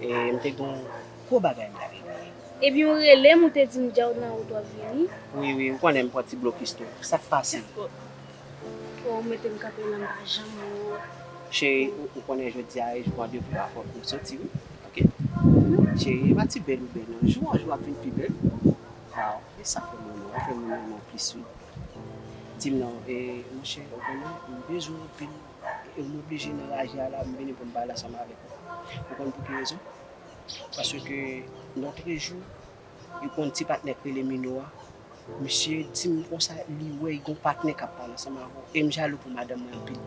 E m te gen yon gwo bagay m t ap ekri. Epi ou rele m ou te di m dja ou t nan wout w ap vini. Wi wi ou konnen m pran ti blokis tou. Sa k pase? Fò ou mete m kanpe nan m pa janm wè w. Cheri ou konnen jodi a e jou an de vwa fòk nou soti wi ok. Cheri e pa ti bèl ou bèl non jou an jou w ap vin pi bèl. Waw e sa fè m renmen w ou fè m renmen w plis wi. Di m non e monchè ou konnen m bezwen w anpil. e m oblije nan raje a la m vini pou m pale ansanm avèk ou. Ou konn pou ki rezon? Paske lotrejou yo konn ti patnè k rele Mino a, misye di m konsa li wè y gon patnè k ap pale ansanm avè w e m jalou pou madanm mwen anpil.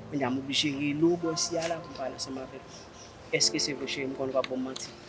Kounye a m oblije rele w bò isi a la pou m pale ansanm avèk ou. Èske se vre cheri m konnen w pa p ban m manti?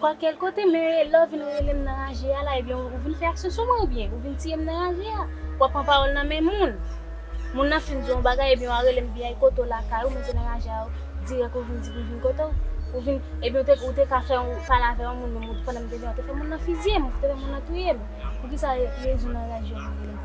Kwa kel kote men lè w vin rele m nan raje a la ebyen ou vin fè aksyon sou mwen oubyen ou vin tiye m nan raje a wap pran pawòl nan men moun moun nan fin di w yon bagay ebyen wa rele m vin ay kote w lakay ou men se nan raje a dirèk ou vin di pou m vin kote w ou vin ebyen ou te ka fè yon pale avè yon moun menm pandan m te vin an ou te fè moun nan fizye m ou te fè moun nan touye m poukisa rezon nan raje a.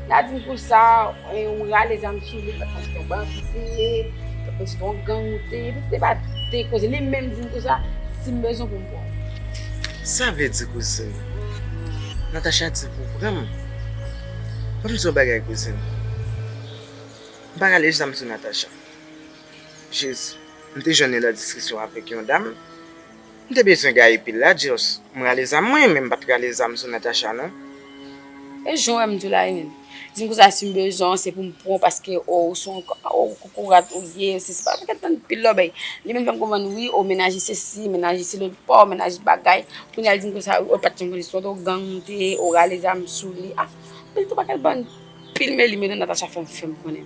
N'a diw pou sa ou rale zam sou li paske se yon bandi ou te ye, paske se yon gang ou te ye, depi se pa de koze li menm dim tou sa, sim bezwen poum pranw. Sa vle di kouzin? Natacha di pou pranm? Banm di yon bagay kouzin, m pa rale zam sou Natacha. Jezi, m te jwenn li nan diskisyon avèk yon dam, M te bezwen gaye pil la just. M rale zam mwen men m pat rale zam sou Natacha non. E jan w wèm tou la hen. Dim konsa sim bezwen w se poum pran w paske oh ou son oh kokorat ou ye ou sesi pafè kèm tann pil lòbèy li menm fèm konprann wi oh mennaj li sesi mennaj li se lòt paw mennaj bagay kounya li dim konsa wi oh pat janm konn istwa oh gang ou te ye ou rale zam sou li ah pil twop ak bann pil meli meli Natacha fèm fèm konnen.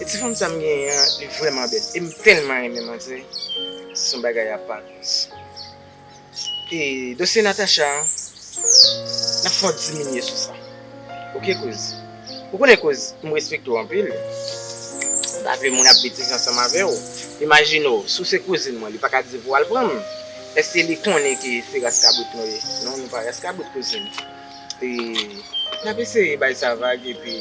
E ti fanm sa m genyen an li vrèman bèl e m tèlman renmen manzè se yon bagay apart guys. E dosye Natacha an n ap fè yon diminye sou sa ok kouz. Ou konnen kouz m respekte w anpil m pa vle moun ap betize ansanm avè w. Imajine w si w se kouzin mwen li pa ka di pou w al pran m èske li konnen ki se ras kabrit nou ye non nou pa ras kabrit kouzin. E nap eseye bay sa vag epi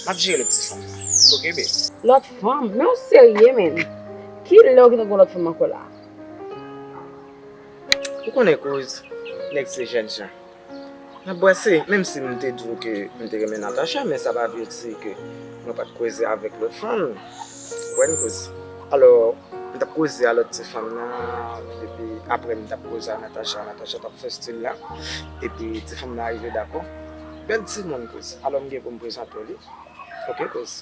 map jere lòt ti fanm nan ok bby. Lòt fanm? Men ou serye menn? Kilè ou gen tan gen yon lòt fanm ankò la? Ou konnen kouz nèg se jèn jan nap bwase menm si mte diw ke mte renmen Natacha men sa pa vle di ke mwen pat koze avèk lòt fanm. Bòn koz. Alò, m t ap koze a lòt ti fanm nan, epi aprè m t ap koze a Natacha, Natacha t ap fè stil la, epi ti fanm nan arive dakò. Bèl timoun koz. Alò m gen pou m prezante w li. Ok koz.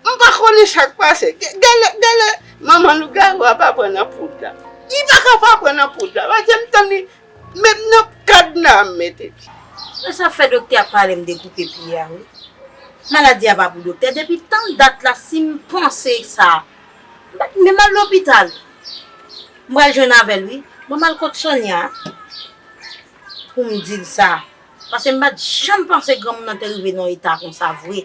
M pa konnen sa k pase. Gen lè manman lougarou a pa pran nan poud la. Li pa ka pa pran nan poud la. Pase m tann li menm nan kadna a m mete pye. Men sa k fè doktè a pale m dekoupe pye a wi. Maladi a pa pou doktè. Depi tann dat la si m panse sa, m pa t menm al lopital. M pral jwenn avè l wi. Ban m al kot Sonya a pou m di l sa. Pase m pa t janm panse granmoun nan te rive nan eta konsa vre.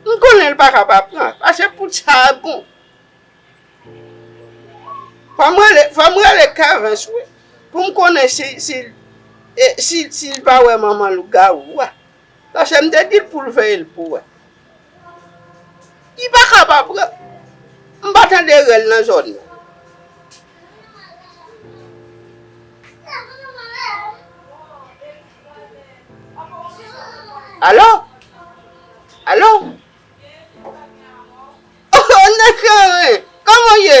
M konnen l pa ka pa pran. Pase pou sa a bon. Fò m rele, fò m rele Kevens wi. Pou m konnen si, si, si l pa wè manman lougawou a. Paske m te di l pou l veye l pou wè. Li pa ka pa pran. M pa tande rèl nan zòn nan. Alo? Alo? Ohh, Nèg sa ren! Kòman w ye?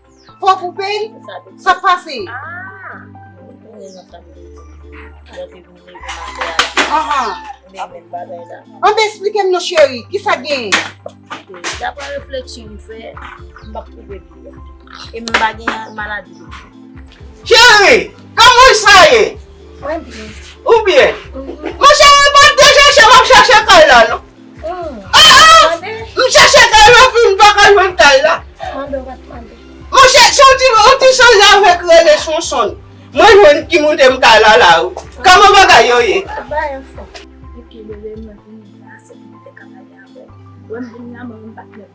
Fò koupe l? Sa k pase? An de esplike m non cheri, ki sa k genyen? Dapre refleksyon m fè, m pa k koupe l byen. E m pa gen maladi do. Cheri, kòman w sa ye? Mwen byen. Ou byen? Mwen cheri, m pa p de chèche, m ap chèche kay la non. M chèche kay la pi m paka jwenn kay la. Monchè se yon ti yon ti sanzave ki rele Sonson mwen jwenn ki moute m kay la la wi. Kòman bagay yo ye?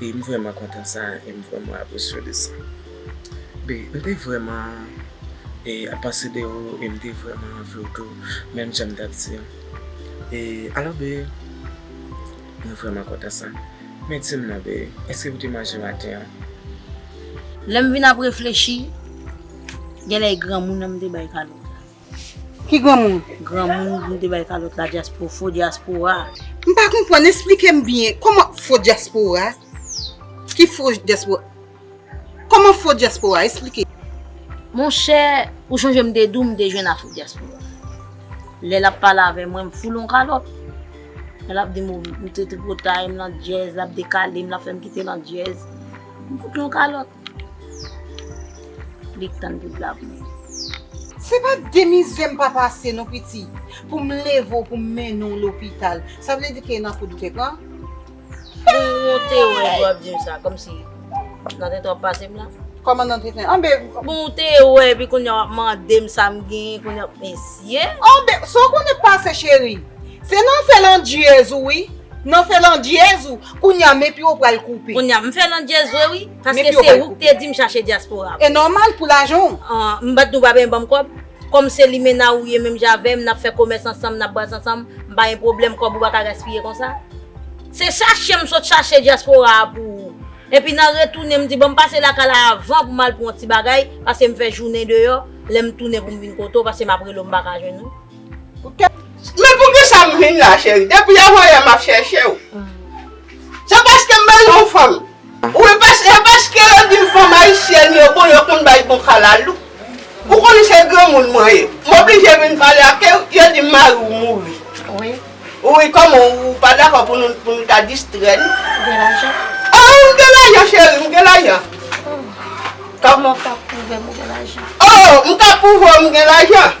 e m vrèman kontan sa e m vrèman apresye de sa be m te vrèman e ap panse de ou e m te vrèman anvi w tou menm jan m tap di an e alò be mwen vrèman kontan sa men di m non be èske ou te manje maten an. Lè m vin ap reflechi genlè e granmoun an m te bay kalòt la. Ki granmoun? Granmoun vin te bay kalòt la dyaspo, fo dyaspora. M pa konprann, esplike m byen, kòman fo dyaspora? Ki fo dyaspora? Kòman fo dyaspora? Esplike. Monchè, ou chonje m te di w m te jwenn a fo dyaspora. Lè l ap pale avè mwen, m foule yon kalòt. Lè l ap di m ou, m tripotay, m landyèz, l ap dekale m, l ap fè m kite landyèz, m fout l yon kalòt. Li k tann pou l la pou mwen. Se pa de mizè m pa pase non piti pou m leve w pou m mennen w lopital. Sa vle di ke nan koud ou te pran? Ou ou te wè lè w ap di m sa kòmsi nan tenten w ap pase m la? Kòman nan tenten? Anbe! Bon ou te wè epi kounya w ap mande m sa m genyen kounya mesye! Anbe! Sa w konnen pase cheri? Se nan fè landjyèz ou wi. Nan fè landjyèz ou, kounya men pye w pral koupe. Kounya m fè landjyèz vre wi, paske se ou k te di m chache dyaspora m. E nòmal pou lajan w. M bat nou pa benyen banm kòb. Kòm se limena ou ye menm jan avè m, n ap fè komès ansanm, n ap bwaz ansanm, m pa gen pwoblèm kòb ou pa ka gaspiye konsa. Se chache m sot chache dyaspora a pou ou. Epi nan retounen m di banm pase lakay la avan pou m al pran yon ti bagay, paske m fè jounen deyò, lè m tounen pou m vin kote w, paske m ap rele w m pa ka jwenn ou. Men poukisa m vin la cheri? Depi avanyè m ap chèche w. Se paske m bezwen yon fanm. Ou e paske yo di m fanm ayisyèn yo bon, yo konn bay bon kalalou. Ou konnen se granmoun mwen ye. M oblije vin pale ake w, yo di m mari w mouri. Wi, kòman ou pa dakò pou nou ta distrè nou? Ou gen lajan? O, m gen lajan cheri, m gen lajan. Kòman ou ka pwouve m ou gen lajan? O, m ka pwouve w m gen lajan.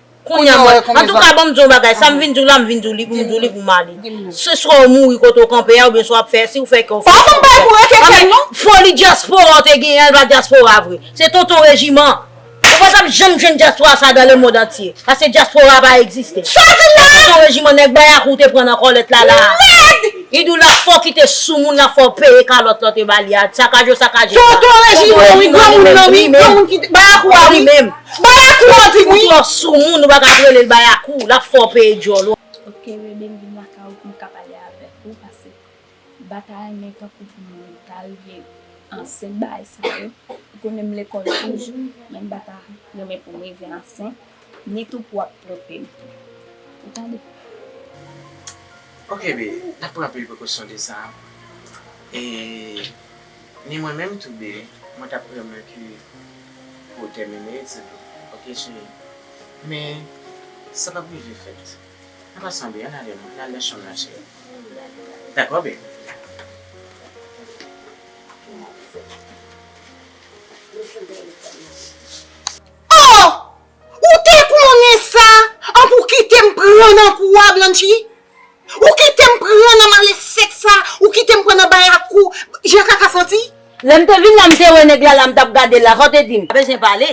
Kounya m wè konbyen zam. Antouka banm di w yon bagay, sa m vin di w la m vin di w li pou m di w li pou m ale. Se swa w mouri kote w kanpe a oubyen swa w ap fè, si w fè kè w fè. Pa konn bay pou rekèkèl non. Foli dyaspora w te genyen an li pa dyaspora vre. Se tonton rejiman. Ou pa tap janm jwenn dyaspora sa dan lemond antye. Paske dyaspora a pa egziste. Sa w di la a? Se tonton rejiman nèg bayakou w te pran nan kòlèt la la a. Mèd! Li di w la fò w kite soumoun la fò w peye kalòt lan te ba li a. Sakaje w sakaje sa. Tonton rejiman wi granmoun nan wi. Granmoun ki te bayakou a wi. Bayakou an di wi. Ou twò sou moun ou pa ka relel bayakou lap fè w peye dyòl ou. Ok Rene m vin lakay ou pou m ka pale avèk ou pase batay men tankou pou m tal vye ansent bagay sa yo ou konnen m lekòl toujou men m pa ta renmen pou m rive ansent ni tou pou ap twonpe m tou ou tande. Ok bby nap pran anpil prekosyon de sa e. Ni mwen menm tou de mwen tap renmen ke pou ou tèmine etid ou ok cheri men sa pap rive fèt an pasan bby ann avèm ann al nan chanm nan cheri dakò bby. Oh ou te konnen sa an pou kitem pran nan kou a Blanchie. Ou kitem pran nan malefèt sa ou kitem pran nan bay ak kou jan kaka santi. Lèm te vin la mte wè nèg la la mtap gadel la saw te dim. Pa bezwen pale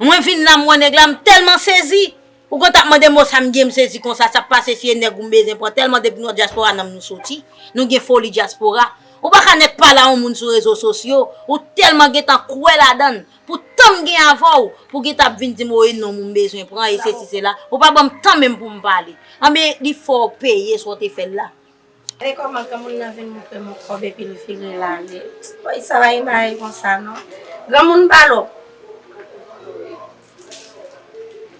Mwen vin la m wè nèg la m tèlman sezi Ou konn tap mandem bon sa m gen m sezi konsa sak pase si e nèg ou m bezwen pran tèlman depi nou an dyaspora nanm nou soti Nou gen foli dyaspora Ou paka nèk pale a yon moun sou rezo sosyo ou tèlman gentan kwè ladann Pou tan m gen avè w, pou gin ta ap vin di m woy non m ou m bezwen pran e sesi sela, ou pa ban m tan menm pou m pale. Anben, li fè w peye sa w te fè l la. Men kòman granmoun nan vin montre m yon kòb epi l vire l ale. Woy sa pa gen bagay konsa non. Granmoun pa lòk.